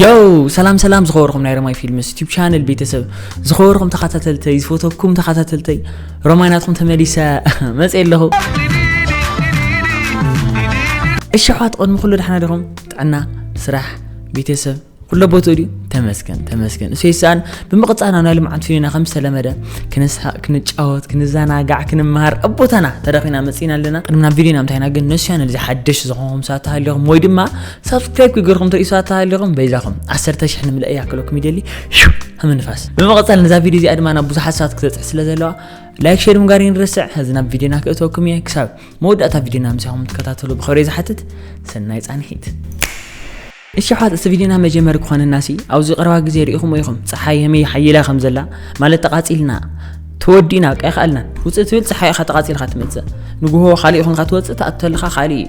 ዮው ሰላም ሰላም ዝኸበርኩም ናይ ረማይ ፊልምስ ዩቲብ ቻነል ቤተሰብ ዝኸበርኩም ተኸታተልተይ ዝፈተኩም ተኸታተልተይ ረማይ ናትኩም ተመሊሰ መፀ ኣለኹ እሺ ኣሕዋት ቅድሚ ኩሉ ደሓና ዲኹም ጥዕና ስራሕ ቤተሰብ ኩሎ ቦትኡ ድዩ ተመስገን ተመስገን እሱ ይስኣን ብምቕፃል ናብ ናይ ልምዓት ፊልምና ከም ዝተለመደ ክንስሓቅ ክንጫወት ክንዘናጋዕ ክንምሃር ኣብ ቦታና ተረኺና መፂና ኣለና ቅድሚ ናብ ቪድዮና እንታይና ግን ነሱ ቻነል እዚ ሓደሽ ዝኾንኩም ሰባት ተሃሊኹም ወይ ድማ ሳብስክራይብ ክገርኹም ትርእዩሳ ተሃሊኹም በይዛኹም ዓሰርተ ሽሕ ንምልእ ያክለኩም ይደሊ ሽው ምንፋስ ብምቕጻል ነዛ ቪድዮ እዚኣ ድማ ናብ ብዙሓት ሰባት ክተጽሕ ስለ ዘለዋ ላይክ ሸር ምጋር ይንርስዕ ሕዚ ናብ ቪድዮና ክእተወኩም እየ ክሳብ መወዳእታ ቪድዮና ምሳኹም ትከታተሉ ብኽብሪ ዝሓትት ሰናይ ጻንሒት እሺ ኣሕዋት እዚ ቪድዮና መጀመሪ ክኾነናሲ ኣብዚ ቀረባ ግዜ ርኢኹም ኢኹም ፀሓይ የመይ ሓይላ ከም ዘላ ማለት ተቓፂልና ተወዲእና በቃ ይኸኣልናን ውፅእ ትብል ፀሓይ ኢኻ ተቓፂልካ ትመፅእ ንጉሆ ካልእ ይኹንካ ትወፅእ ተኣቱ ተለኻ ካልእ እዩ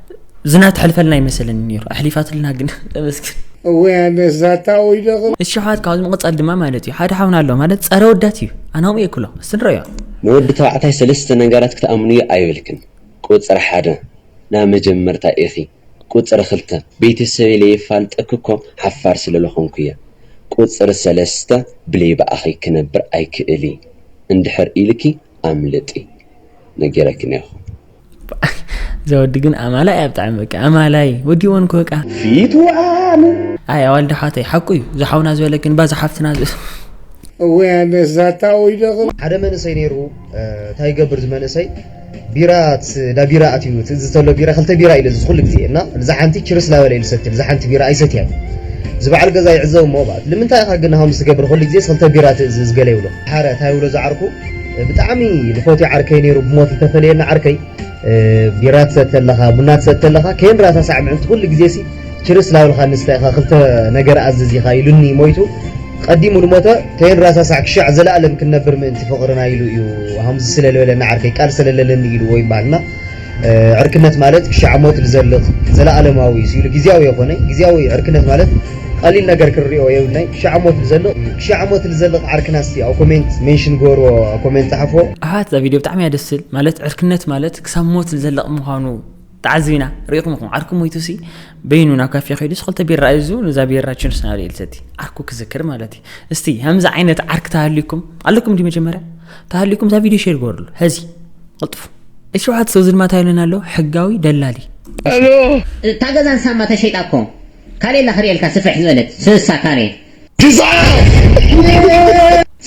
ዝና ትሕልፈልና ይመስለኒ ነይሩ ኣሕሊፋትልና ግን ተመስገን እወ ያነ ዛታ ወይ ደቕ እሺ ሓት ካብዚ ምቕጻል ድማ ማለት እዩ ሓደ ሓውና ኣሎ ማለት ጸረ ወዳት እዩ ኣናኦም እየ ክሎ እስቲ ንረዮ ንወዲ ተባዕታይ ሰለስተ ነገራት ክትኣምንዮ ኣይብልክን ቁጽሪ ሓደ ናይ መጀመርታ ኢኺ ቁጽሪ ክልተ ቤተሰበይ ለየፋልጠኪ እኮ ሓፋር ስለለኾንኩ እየ ቁጽሪ ሰለስተ ብለይ ብኣኺ ክነብር ኣይክእል እየ እንድሕር ኢልኪ ኣምልጢ ነጊረኪ እኔኹ ዘወዲ ግን ኣማላይ እያ ብጣዕሚ በቃ ኣማላይ ወዲዎን እኮ በቃ ፊቱ ኣነ ኣይ ኣዋልድ ኣሕዋተይ ሓቁ እዩ ዝሓውና ዝበለክን ባ ዝሓፍትና ወይ ኣነ ዛታ ወይ ደኽል ሓደ መንእሰይ ነይሩ እንታይ ይገብር እዚ መንእሰይ ቢራ ዳ ቢራ ኣትዩ ዝተሎ ቢራ ክልተ ቢራ ኢለ ዝኹሉ ግዜ እና እዛ ሓንቲ ችርስ ላበለ ኢሉ ሰትል እዛ ሓንቲ ቢራ ኣይሰትያ እዚ በዓል ገዛ ይዕዘቡ እሞ ልምንታይ ኢኻ ግን ሃምስ ትገብር ኩሉ ግዜ ክልተ ቢራ ትእዝዝ ገለ ይብሎ ሓረ እንታይ ይብሎ ዝዓርኩ ብጣዕሚ ልፎትዮ ዓርከይ ነይሩ ብሞት ልተፈለየና ዓርከይ ቢራ ትሰተ ኣለኻ ቡና ትሰተ ኣለኻ ከይንራሳ ሳዕ ምዕልቲ ኩሉ ግዜሲ ችርስ ላብልካ ንስታይ ኢኻ ክልተ ነገር ኣዝዝ ኢኻ ኢሉኒ ሞይቱ ቀዲሙ ልሞተ ከይንራሳ ሳዕ ክሻዕ ዘለኣለም ክንነብር ምእንቲ ፍቕርና ኢሉ እዩ ሃምዚ ስለ ልበለኒ ዓርከይ ቃል ሰለለለኒ ኢሉ ወይም በሃልና ዕርክነት ማለት ክሻዕ ሞት ዝዘልቕ ዘለኣለማዊ እዩ ሲሉ ግዝያዊ የኾነ ግዝያዊ ዕርክነት ማለት ቀሊል ነገር ክንሪኦ የብልናይ ክሻዕ ሞት ዝዘልቕ ክሻዕ ሞት ዝዘልቕ ዓርክና እስቲ ኣብ ኮሜንት ሜንሽን ጎሮ ኣብ ኮሜንት ጸሓፎ ኣሕዋት እዛ ቪድዮ ብጣዕሚ እያ ደስ ትብል ማለት ዕርክነት ማለት ክሳብ ሞት ዝዘልቕ ምዃኑ ተዓዚብና ርኢኹም ኢኹም ዓርኩ ሞይቱሲ በይኑ ናብ ካፌ ከይዱስ ክልተ ቢራ እዙ ነዛ ቢራ ችንስ ናበለ ኢልሰቲ ዓርኩ ክዝክር ማለት እዩ እስቲ ከምዚ ዓይነት ዓርክ ተሃልዩኩም ኣለኩም እንዲ መጀመርያ ተሃሊኩም እዛ ቪድዮ ሼር ግበርሉ ሐዚ ቅልጥፉ እቲ ሸውዓተ ሰው ዝድማ እንታይ ይብለና ኣሎ ሕጋዊ ደላሊ እታ ገዛ ንሳማ ተሸይጣ እኮ ካልእ የላ ክርእየልካ ስፍሕ ዝበለት ስሳ ካልእ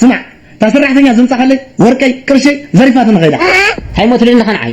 ስማዕ እታ ሰራሕተኛ ዝምፃካለይ ወርቀይ ቅርሸይ ዘሪፋትኒ ከይዳ ኣይሞትልንኻ ንዓይ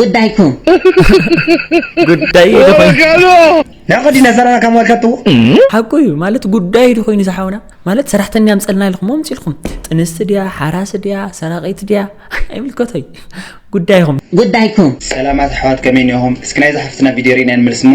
ጉዳይኩም ጉዳይ ንዕቅድ ኢና ሰራና ከም ወልከቱ ሓቁ እዩ ማለት ጉዳይ ዶ ኮይኑ ዝሓውና ማለት ሰራሕተኛ ምፀልና ኢልኩም ምፅ ኢልኩም ጥንስቲ ድያ ሓራሲ ድያ ሰራቂት ድያ ኣይምልከቶይ ጉዳይኹም ጉዳይኩም ሰላማት ኣሕዋት ከመይ እኒኹም እስኪ ናይዛ ሓፍትና ቪድዮ ርኢና ንመልስ እሞ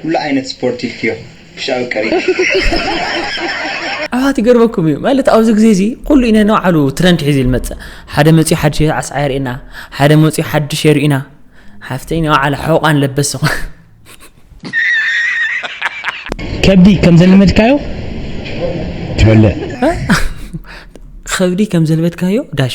ኩሉ ዓይነት ስፖርት ኢልክዮ ኩሻዊ ቀሪቡ። ኣሕዋት ይገርመኩም እዩ ማለት ኣብዚ ግዜ እዚ ኩሉ እዩ ነናይ ባዕሉ ትረንድ ሒዙ እዩ ዝመጽእ ሓደ መጺኡ ሓድሽ ኣስዓ የርእየና ሓደ መጺኡ ሓድሽ የርእዩና ሓፍተይ ናይ ባዕላ ሕቖኣን ለበስ ከብዲ ከም ዘለመድካዮ ትበልዕ ከብዲ ከም ዘለመድካዮ ዳሽ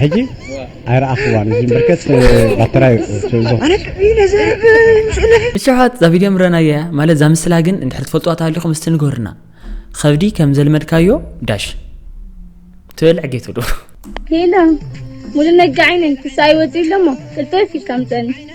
ሕጂ ኣይረኣኽዋን እዚ ብርከት ባተራ ንሸውሓት እዛ ቪድዮ ምረናያ ማለት እዛ ምስላ ግን እንድሕር ትፈልጥዋ ተሃሊኹም እስቲ ንገሩና ኸብዲ ከም ዘልመድካዮ ዳሽ ትበልዕ ጌቶ ዶ ሄሎ ሙሉ ነጋዒ ነኝ ክሳይ ወፂ ኣለሞ ቅልጠፍ ኢልካ ምፀኒ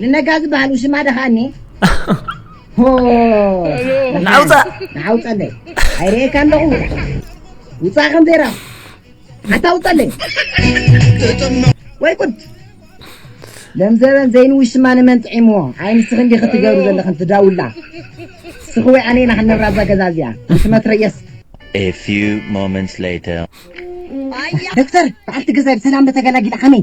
ንነጋ ዝበሃል ውሽማ ደኻኒ ንዓውፃእ ንዓውፀለይ ኣይርእየካ ኣለኹ ውፃእ ከም ዘይራ ሓታ ውፀለይ ወይ ቁድ ለም ዘበን ዘይን ውሽማ ንመን ጥዒምዎ ኣይ ንስኺ እንዲ ክትገብሩ ዘለኽን ትዳውላ ንስኺ ወይ ኣነ ኢና ክንነብራ እዛ ገዛ እዚኣ ሽመትረየስ A few moments later. ደክተር በዓልቲ ገዛይ ብሰላም ተገላጊላ ከመይ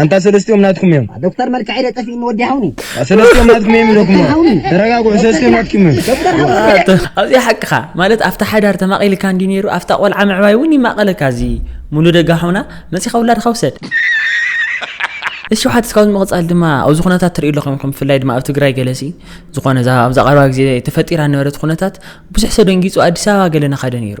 ኣንታ ሰለስቲኦም ናትኩም እዮም። ዶክተር መልክዐይ ዶ ጠፊኡኒ ወዲ ሃውኒ። ሰለስቲኦም ናትኩም እዮም ኢለኩም ተረጋግዑ፣ ሰለስቲኦም ናትኩም እዮም። ኣብዚኣ ሓቅኻ ማለት ኣብታ ሓዳር ተማቒልካ እንዲ ነይሩ ኣብታ ቆልዓ ምዕባይ እውን ይማቐለካ እዚ ሙሉ ደጋ ሓውና መጺኻ ውላድኻ ውሰድ እሺ ሓትስ ካብዚ ምቕጻል ድማ ኣብዚ ኩነታት ትርእዩ ኣለኹም ኢኹም ብፍላይ ድማ ኣብ ትግራይ ገለሲ ዝኾነ ኣብዛ ቀረባ ግዜ ተፈጢራ ነበረት ኩነታት ብዙሕ ሰደንጊጹ ኣዲስ ኣበባ ገለ ናኸደ ነይሩ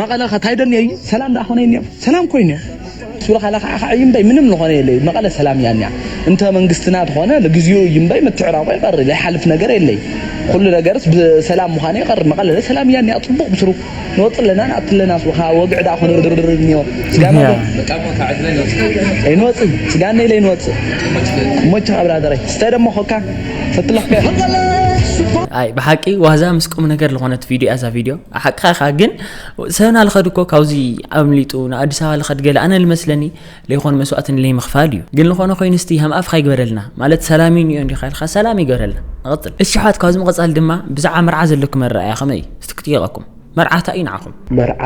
መቐለ ከ ታይ ደልዮ እዩ ሰላም ደኣ ኮነ እኒኦ ሰላም ኮይኑ ስብሎ ካለ ከዓ ከዓ እዩ እምበይ ምንም ዝኾነ የለ እዩ መቐለ ሰላም እያ እኒኣ እንተ መንግስትና ተኾነ ንግዚኡ እዩ እምበይ ምትዕራቆ ይቀሪ ዘይሓልፍ ነገር የለ እዩ ኩሉ ነገርስ ብሰላም ምዃኑ ይቀሪ መቐለ ሰላም እያ እኒኣ ፅቡቅ ብስሩ ንወፅ ኣለና ንኣቲ ኣለና ስብሎ ከዓ ወግዒ ደኣ ኮነ ድርድር እኒኦ ስጋና ኣይንወፅ ስጋና ኢለ ኣይንወፅ እሞችኻ ብራደረይ ስተ ደሞ ኮካ ሰቲ ለኽከ ኣይ ብሓቂ ዋዛ ምስ ቁም ነገር ልኾነት ቪድዮ እያ እዛ ቪድዮ ሓቅኻ ኢኻ ግን ሰብና ልኸድ እኮ ካብዚ ኣምሊጡ ንኣዲስ ኣበባ ልኸድ ገለ ኣነ ልመስለኒ ለይኮን መስዋእቲ ንለይ ምኽፋል እዩ ግን ልኾነ ኮይኑ ስቲ ሃም ኣፍካ ይግበረልና ማለት ሰላም እዩ እንዲኻ ኢልካ ሰላም ይገበረልና ንቐፅል እሺ ኣሕዋት ካብዚ ምቐፃል ድማ ብዛዕባ መርዓ ዘለኩም ኣረኣእያ ከመይ እዩ እስቲ ክጥየቐኩም መርዓ እንታይ እዩ ንዓኹም መርዓ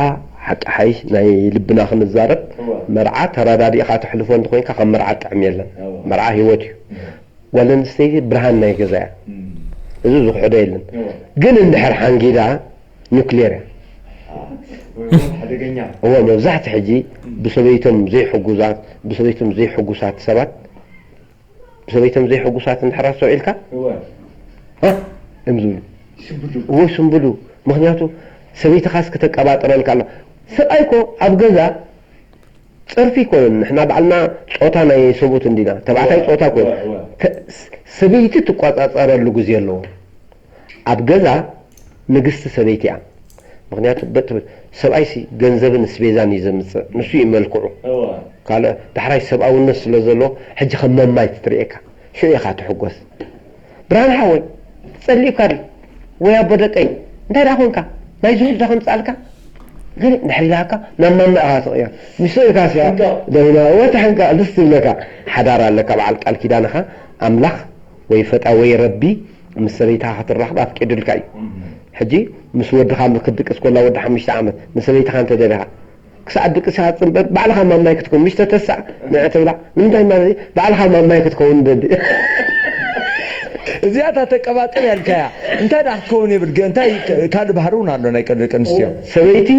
ሓቂ ሓይሽ ናይ ልብና ክንዛረብ መርዓ ተረዳዲእኻ ተሕልፎ እንተኾይንካ ከም መርዓ ጥዕም የለን መርዓ ሂወት እዩ ጓል ኣንስተይቲ ብርሃን ናይ ገዛ እያ እዚ ዝክሕዶ የለን ግን እንድሕር ሓንጊዳ ኑክሌር እያ እወ መብዛሕቲ ሕጂ ብሰበይቶም ዘይሕጉዛት ብሰበይቶም ዘይሕጉሳት ሰባት ብሰበይቶም ዘይሕጉሳት እንድሕር ኣስተውዒልካ እ እም ዝብሉ እወ ስምብሉ ምክንያቱ ሰበይትካስ ክተቀባጥረልካ ኣለዋ ስቃይ እኮ ኣብ ገዛ ጽርፊ ኮይን ንሕና ባዕልና ጾታ ናይ ሰቡት እንዲና ተባዕታይ ጾታ ኮይን ተ ሰበይቲ ትቆጻጸረሉ ግዜ ኣለዎ ኣብ ገዛ ንግስቲ ሰበይቲ እያ ምክንያቱ በ ትብል ሰብኣይሲ ገንዘብን እስቤዛን እዩ ዘምጽእ ንሱ እዩ መልክዑ ካልእ ዳሕራይ ሰብኣውነት ስለ ዘለዎ ሕጂ ከም መማይት ትርእየካ ሽዑ ኢካ ትሕጎስ። ብርሃን ሓወይ ተጸሊኡካ ድዩ ወይ ኣቦ ደቀይ እንታይ ድኣ ኮንካ ናይ ዝሑል ድኣ ከምጽኣልካ ግን ድሕሪ ኢላካ ናብ ማማ ኢካ ትቅየር ምስ ሰብእይካስ እያ ደውና እወ ተሕንካእ ደስ ትብለካ ሓዳር ኣለካ በዓል ቃል ኪዳን እካ ኣምላክ ወይ ፈጣ ወይ ረቢ ምስ ሰበይትካ ክትራከብ ኣፍቂዱልካ እዩ ሕጂ ምስ ወድካ ክድቅስ ኮላ ወዲ ሓሙሽተ ዓመት ንሰበይትካ እንተ ደሊካ ክሳዕ ድቅሳ ጽንበር ባዕልኻ ማማይ ክትከውን ምሽ ተተሳእ ንዕ ትብላ ንምንታይ ማለት'ዩ ባዕልኻ ማማይ ክትከውን ደሊ እዚኣ እታ ተቀባጥር ያልካያ እንታይ ድኣ ክትከውን የብል ግን እንታይ ካልእ ባህሪ ውን ኣሎ ናይ ቀደም ደቂ ኣንስትዮ። ሰበይቲ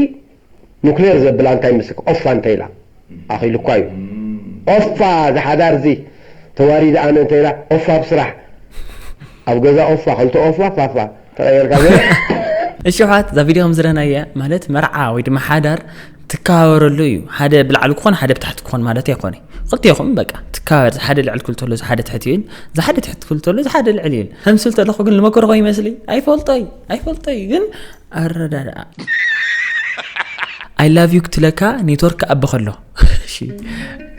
ኑክሌር ዘብላ እንታይ መስለካ ኦፋ እንተኢላ ኣኺሉኳ እዩ ኦፋ እዚ ሓዳር እዚ ተዋሪደ ኣነ እንተኢላ ኦፋ ኣብ ስራሕ ኣብ ገዛ ኦፋ ክልተ ኦፋ ፋፋ ተቐየርካ ዘ እሺ ኣሕዋት እዛ ቪድዮ ከም ዝረናያ ማለት መርዓ ወይ ድማ ሓዳር ትከባበረሉ እዩ ሓደ ብላዕሊ ክኾን ሓደ ብታሕቲ ክኾን ማለት ኣይኮነ ክልቴኹም በቃ ትከባበር ዝሓደ ልዕል ክብል ተሎ ዝሓደ ትሕቲ እዩን ዝሓደ ትሕቲ ክብል ተሎ ዝሓደ ልዕል እዩን ከምስል ተለኹ ግን ዝመከርኮ ይመስሊ ኣይፈልጦይ ኣይፈልጦይ ግን ኣረዳድኣ ኣይ ላቭ ዩ ክትለካ ኔትወርክ ኣቢ ከሎ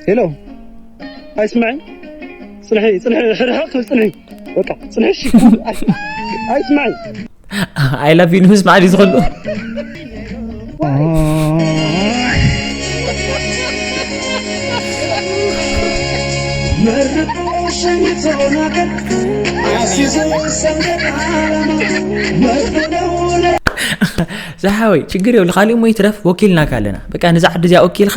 ሄሎ ኣይስምዐ ፅንሒ ፅንሒ ሕርሕቕ ክብል ፅንሒ በቃ ጽንሕሽ ኣይስማዕ ኣይ ላቭ ዩ ንምስማዕ ድዩ ዝኸሉ ዝሓወይ ችግር የብሉ ካሊእ እሞ ይትረፍ ወኪልናካ ኣለና በቃ ነዛ ዓዲ እዚኣ ወኪልካ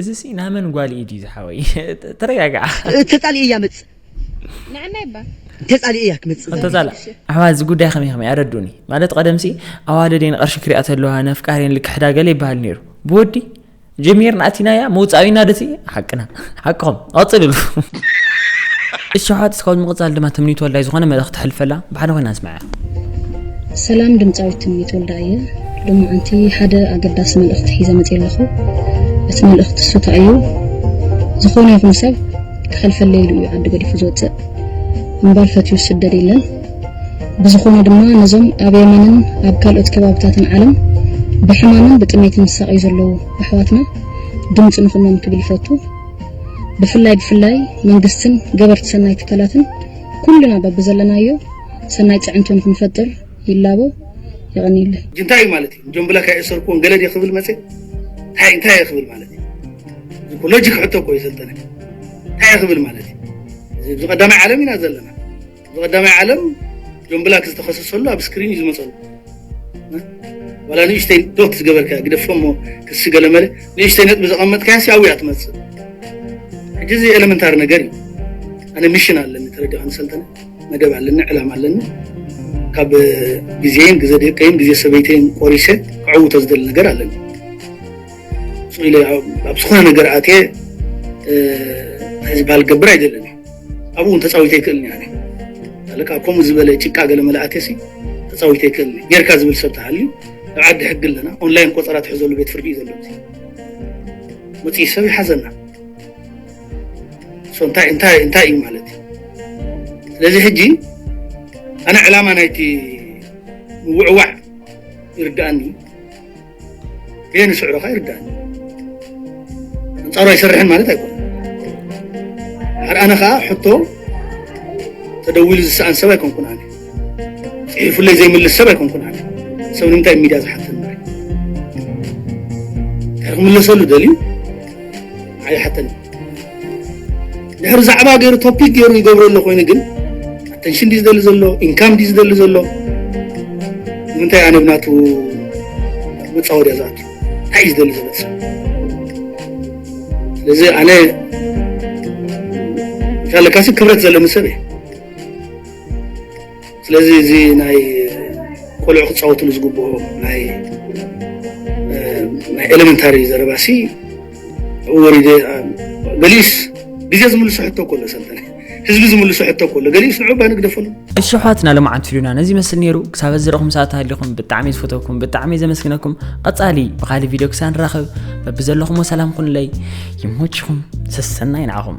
እዚ ሲ ናመን ጓል ኢድ እዩ ዝሓወይ ተረጋግዓ ተፃሊእ እያ ምፅ ንዓናይ ባ ተፃሊእ እያ ክምፅ ተፃላ ኣሕዋ እዚ ጉዳይ ከመይ ከመይ ኣረዱኒ ማለት ቀደምሲ ኣዋደደን ቅርሺ ክሪኣ ተለዋ ነፍቃሬን ልክሕዳ ገለ ይበሃል ነይሩ ብወዲ ጀሚርና ኣቲናያ መውፃኢና ደቲ ሓቅና ሓቅኹም ቀፅልሉ እሸሓት እስካብ ምቕፃል ድማ ትምኒት ወላይ ዝኾነ መልእኽቲ ሕልፈላ ብሓደ ኮይና ንስምዐ ሰላም ድምጻዊት ትምኒት ወልዳ እየ ሎማዓንቲ ሓደ ኣገዳሲ መልእኽቲ ሒዘ መጽየ ኣለኹ እቲ መልእኽቲ እሱ እንታይ እዩ ዝኾነ ይኹን ሰብ ክኸልፈለይ ኢሉ እዩ ዓዲ ገዲፉ ዝወፅእ እምበር ፈትዩ ዝስደድ የለን ብዝኾነ ድማ ነዞም ኣብ የመንን ኣብ ካልኦት ከባብታትን ዓለም ብሕማምን ብጥሜትን ዝሳቐዩ ዘለዉ ኣሕዋትና ድምፂ ንኹኖም ክብል ይፈቱ ብፍላይ ብፍላይ መንግስትን ገበርቲ ሰናይ ትካላትን ኩልና በብዘለናዮ ሰናይ ፅዕንቶ ንክንፈጥር ይላቦ። የቐንየለይ። ሕጂ እንታይ እዩ ማለት እዩ እዞም ብላክ ኣይእሰርክዎን ገለ ድየ ክብል መጽ እንታይ እንታይ እየ ክብል ማለት እዩ እዚ ሎጂክ ሕቶ እኮ እዩ ሰልጠነ እንታይ እየ ክብል ማለት እዩ እዚ ብቀዳማይ ዓለም ኢና ዘለና ብቀዳማይ ዓለም እዞም ብላክ ዝተኸሰሰሉ ኣብ ስክሪን እዩ ዝመፀሉ ዋላ ንእሽተይ ዶት ዝገበርካ ግደፎሞ ክሲ ገለመለ ንእሽተይ ነጥቢ ዘቐመጥካያ ሲ ኣብያ ትመፅእ ሕጂ እዚ ኤለመንታሪ ነገር እዩ ኣነ ሚሽን ኣለኒ ተረዲኻ ንሰልጠነ መደብ ኣለኒ ዕላማ ኣለኒ ካብ ግዜን ግዘ ደቀይን ግዜ ሰበይተይን ቆሪሰ ክዕውቶ ዝደሊ ነገር ኣለኒ ስቕ ኢለ ኣብ ዝኾነ ነገር ኣትየ ዝበሃል ገብር ኣይደለኒ ኣብኡ እውን ተፃዊተ ይክእልኒ ኣነ ኣለካ ከምኡ ዝበለ ጭቃ ገለ መላእተ ሲ ተፃዊተ ይክእልኒ ጌርካ ዝብል ሰብ ተሃልዩ ኣብ ዓዲ ሕጊ ኣለና ኦንላይን ቆፀራ ትሕዘሉ ቤት ፍርዲ እዩ ዘሎ መፅኢ ሰብ ይሓዘና እንታይ እንታይ እንታይ እዩ ማለት እዩ ስለዚ ሕጂ ኣነ ዕላማ ናይቲ ምውዕዋዕ ይርዳእኒ እየ ንስዕሮ ኸ ይርዳእኒ ኣንጻሩ ኣይሰርሕን ማለት ኣይኮነ ሓደ ኣነ ከዓ ሕቶ ተደዊሉ ዝሰኣን ሰብ ኣይኮንኩን ኣነ ፅሒፉለይ ዘይምልስ ሰብ ኣይኮንኩን ኣነ ሰብ ንምንታይ ሚድያ ዝሓተና ክምለሰሉ ደልዩ ኣይሓተኒ ድሕሪ ዛዕባ ገይሩ ቶፒክ ገይሩ ይገብሮ ኣሎ ኮይኑ ግን ኣተንሽን ዲ ዝደሊ ዘሎ ኢንካም ዲ ዝደሊ ዘሎ ንምንታይ ኣነ ብናቱ መፃወድያ ዝኣቱ እንታይ እዩ ዝደሊ ዘሎ ሰብ ስለዚ ኣነ እንታለካሲ ክብረት ዘለኒ ሰብ እየ ስለዚ እዚ ናይ ቆልዑ ክፃወትሉ ዝግብኦ ናይ ናይ ኤሌመንታሪ ዘረባሲ ወሪደ ገሊኡስ ግዜ ዝምልሶ ሕቶ እኮ ኣሎ ሰልጠነ ህዝቢ ዝምልሶ ሕቶ እኮ ኣሎ ገሊኡስ ንዑ ባ ንግደፈሉ እሺ ኣሕዋትና ለማዓንቲ ፊሉና ነዚ ይመስል ነይሩ ክሳብ እዚ ረኹም ሰዓት ሃሊኹም ብጣዕሚ ዝፈተኩም ብጣዕሚ ዘመስግነኩም ቐፃሊ ብካሊእ ቪድዮ ክሳብ ንራኸብ በብዘለኹሞ ሰላም ኩንለይ ይሞችኹም ሰሰናይ ንዓኹም